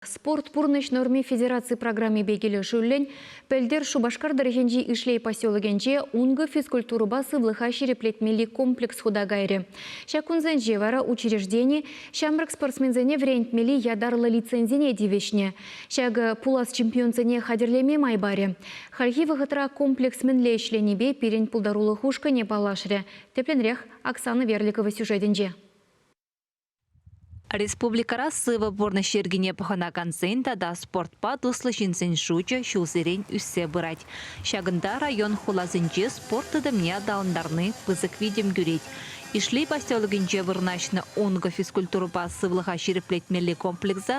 Спорт пурнӑҫ норми федераци программипе килӗшӳллӗн пӗлтӗр Шупашкар тӑрӑхӗнчи Ишлей поселокӗнче ункӑ физкультурӑпа сывлӑха ҫирӗплетмелли комплекс хута кайрӗ. Ҫак кунсенче вара учреждени ҫамрӑк спортсменсене вӗрентмелли ятарлӑ лицензине тивӗҫнӗ. Ҫакӑ пулас чемпионсене хатӗрлеме май парӗ. Хальхи вӑхӑтра комплекс мӗнле ӗҫленипе пирӗн пултарулӑх ушкӑнӗ паллашрӗ, тӗплӗнрех Оксана Верликова сюжетӗнче. Республикӑра сывӑ пурнӑҫ йӗркине пӑхӑнакансен тата спортпа туслӑ ҫынсен шучӗ ҫулсерен ӳссе пырать. Ҫакӑнта район хуласенче спорт тытӑмне аталантарни пысӑк витӗм кӳрет. Ишлей поселокӗнче вырнаҫнӑ Ункӑ физкультурӑпа сывлӑха ҫирӗплетмелли комплекса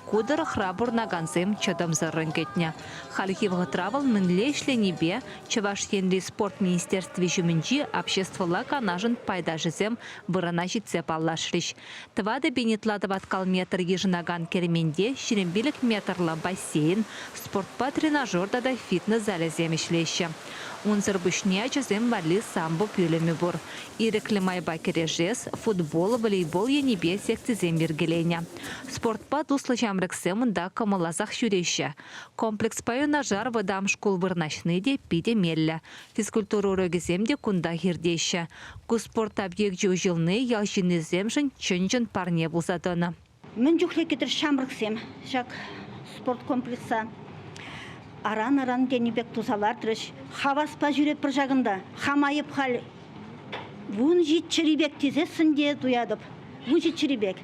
ку тӑрӑхра пурӑнакансем чӑтӑмсӑррӑн кӗтнӗ. Хальхи вӑхӑтра вӑл мӗнле ӗҫленипе Чӑваш Енри спорт министерстви ҫумӗнчи обществӑлла канашӑн пайташӗсем вырӑна ҫитсе паллашрӗҫ. Тӑватӑ пин ытла тӑваткал метр йышӑнакан керменте ҫирӗм пилӗк метрлӑ бассейн, спортпа тренажер тата фитнес залӗсем ӗҫлеҫҫӗ. Унсӑр пуҫне ачасем валли самбо пӳлӗмӗ пур, ирӗклӗ майпа кӗрешес, футбол, волейбол енӗпе секцисем йӗркеленӗ. Спортпа туслӑ ҫамрӑксем унта кӑмӑлласах ҫӳреҫҫӗ. Комплекспа юнашар вӑтам шкул вырнаҫни те питӗ меллӗ, Физкультура урокӗсем те кунтах иртеҫҫӗ. Ку спорт объекчӗ уҫӑлни ял ҫыннисемшӗн чӑн-чӑн парне пулса тӑнӑ. Мӗн чухлӗ кӗтӗр ҫамрӑксем ҫак спорт комплекса аран-аран тенӗ пек туса лартрӗҫ. Хаваспа ҫӳретпӗр ҫакӑнта. Хам айӑп халь вун ҫич чӗри пек тесессӗн те туятӑп. Вун ҫич чӗри пек.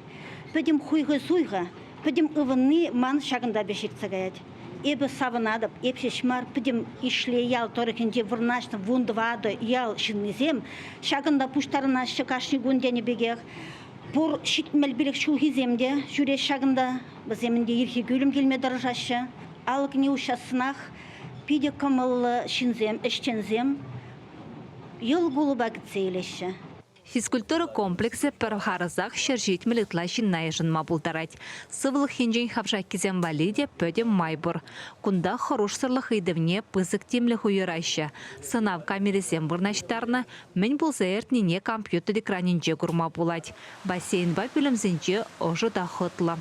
Пӗтӗм хуйхӑ-суйхӑ, пӗтӗм ывӑнни ман ҫакӑнта пек ҫитсе каять. Эпӗ савӑнатӑп, эп ҫеҫ мар, пӗтӗм Ишлей ял тӑрӑхӗнче вырнаҫнӑ вун тӑватӑ ял ҫыннисем ҫакӑнта пуҫтарӑнаҫҫӗ кашни кун тенӗ пекех. Пур ҫитмӗл пилӗк ҫулхисем те ҫӳреҫҫӗ ҫакӑнта, вӗсем ӗнтӗ ирхи кӳлӗм килме тӑрӑшаҫҫӗ. Алӑкне уҫассанах питӗ кӑмӑллӑ ҫынсем, ӗҫченсем йӑл кулӑпа кӗтсе илеҫҫӗ. Физкультура комплексӗ пӗр харӑсах ҫӗр ҫитмӗл ытла ҫынна йышӑнма пултарать. Сывлӑх енчен хавшаккисем валли те пӗтӗм май пур. Кунта хӑрушсӑрлӑх ыйтӑвне пысӑк тимлӗх уйӑраҫҫӗ, сӑнав камерисем вырнаҫтарнӑ, мӗн пулса иртнине компьютер экранӗнче курма пулать. Бассейнпа пӳлӗмсенче ӑшӑ та хӑтлӑ.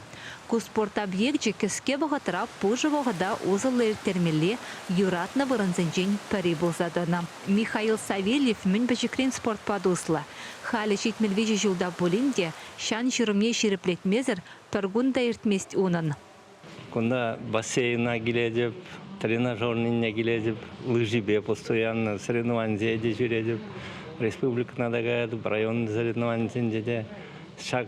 Ку спорт объекчӗ кӗске вӑхӑтра пушӑ вӑхӑта усӑллӑ ирттермелли юратнӑ вырӑнсенчен пӗри пулса тӑнӑ. Михаил Савельев мӗн пӗчӗкрен спортпа туслӑ. Халӗ ҫитмӗл виҫӗ ҫул та пулин те ҫан-ҫурӑмне ҫирӗплетмесӗр пӗр кун та иртмест унӑн. Кунта бассейна килетӗп, тренажернине килетӗп, лыжипе постоянно соревнованисене те ҫӳретӗп. Республикӑна та каятӑп, район соревнованийӗсенче те ҫак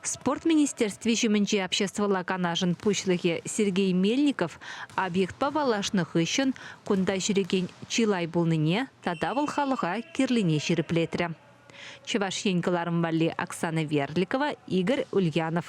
Спорт министерстви ҫумӗнчи обществӑлла канашӑн пуҫлӑхӗ Сергей Мельников объектпа паллашнӑ хыҫҫӑн кунта ҫӳрекен чылай пулнине тата вӑл халӑха кирлине ҫирӗплетрӗ. Чӑваш Ен кӑларӑм валли Оксана Верликова, Игорь Ульянов.